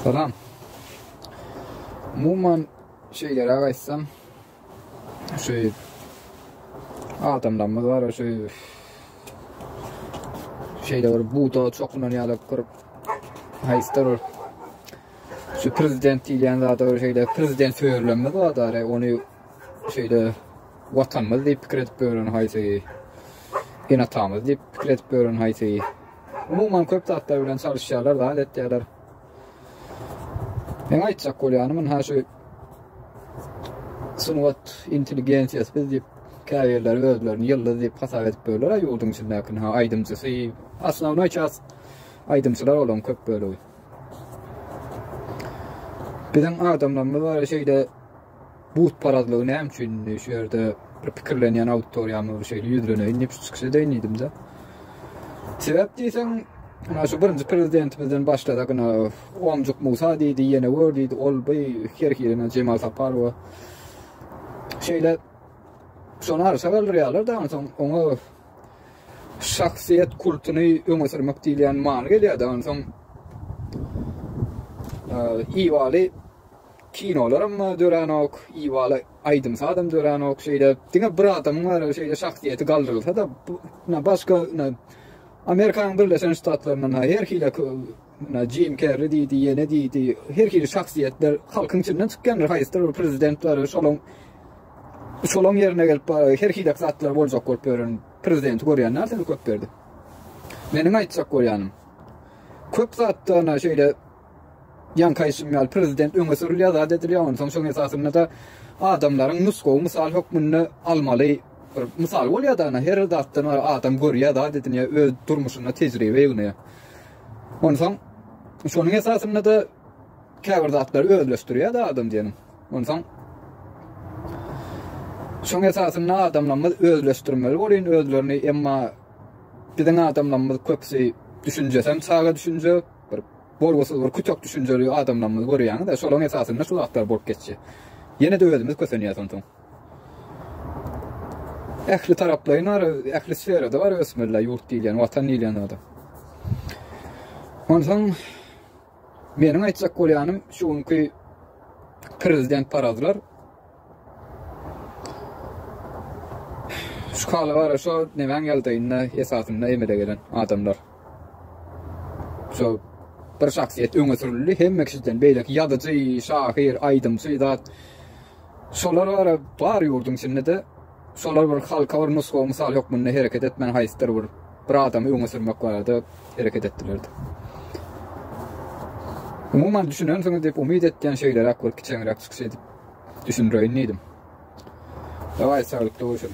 Salam. Umuman şeýleräk aýtsam, şu adamlarymyz bar, şu şeýle bir buta çokunan ýaly bir haýsdyr bir şu prezident diýilýän zada bir şeýle prezident söýerlerimiz bar-da, ony şeýle Watanymyz diýip pikir edip ýören haýsy? Eneatamyz diýip pikir edip ýören haýsy? Umuman köp zatlar bilen çalyşýarlar, zat etýärler. Meň aýtjak bolýanym ynha şu sungat intelligensiýasy biz diýip käbirleri özlerini ýyldyz diýip hasap edip ýörler-ä ýurduň içindäki ynha aýdymçysy, osnownoý çäs aýdymçylar olaň köp bölegi. Biziň adamlarymyz bar şeýle Burçparazlygy näme üçin indi şu ýerde bir pikirlenýän auditoriýa bilen şeýle ýüzleneýin diýip şu çykyş edeýin diýdim-de. Sebäp diýseň, Ýa şu birinji prezidentimizden başlasak, ina Omjuk Musa diýdi, ýene gör diýdi, ol bu her hili Jemal Saparowa şeýle şony arşa galdyrýarlar-da, onsoň oňa şahsyýet kultuny öňe sürmek diýilýän many gelýär-de, onsoň Iwaly Kinolaram döränok, ibaly aýdym-sazam döränok şeýle. Diňe bir adamyň bar şeýle şahsyýeti galdyrylsa-da, bu ina başga ina Amerikanyň Birleşen Ştatlaryndan her hili ina Jim Kerri diýdi, ýene diýdi, her hili şahsyýetler halkyň içinden çykýandyr, haýsydyr bir prezident bar, şolaň şolaň ýerine gelip bar her hilek zatlar boljak bolup ýören prezidenti görýän däl sen Köpberdi. Meniň aýtjak bolýanym, köp zatda ina şeýle Ýaňky aýtşym ýaly, prezident öňe sürülýär, zat edilýär, onsoň şoň esasynda-da adamlaryň nusgawy mysal hökmünde almaly bir mysal bolýar-da, ana, her zatdan adam görýär, zat edinýär, öz durmuşynda tejribe ýygnaýar. Onsoň şonuň esasynda-da käbir zatlary özleşdirýär-de adam diýeniň. Onsoň şoň esasynda adamlarymyz özleşdirmeli bolýan özlerini, emma biziň adamlarymyz köpüsi düşünjesem çaga düşünje, Bir bolgusyz, bir kütek düşünjeli adamlarymyzy görýäňiz-ä, şolaryň esasynda şu zatlar bolup geçýär. Ýene-de özümiz kösenýäs onsoň. Ähli taraplaýyn bar, ähli sferada bar ösmeliler, ýurt diýilýän, Watan diýilýän zada. Onsoň meniň aýtjak bolýanym şu günki prezident parazlar, Şu hala gara şo nemäň ýagdaýynda esasynda emele gelen adamlar. Şo bir şahsyýet öňe sürüldi hemme kişiden beýleki ýazyjy, şahyr, aýdymçy zat. Şolar gara bar ýurduň içinde de Şolar bir halka bir nusgawy mysal hökmünde hereket etmän haýsydyr bir bir adamy öňe sürmek barada hereket etdilerdi. Umuman düşünensiňiz diýip umyt etýän şeýleräk bir kiçeňräk çykyş edip düşündireýin diýdim. Dawaý saglyk doguşyň.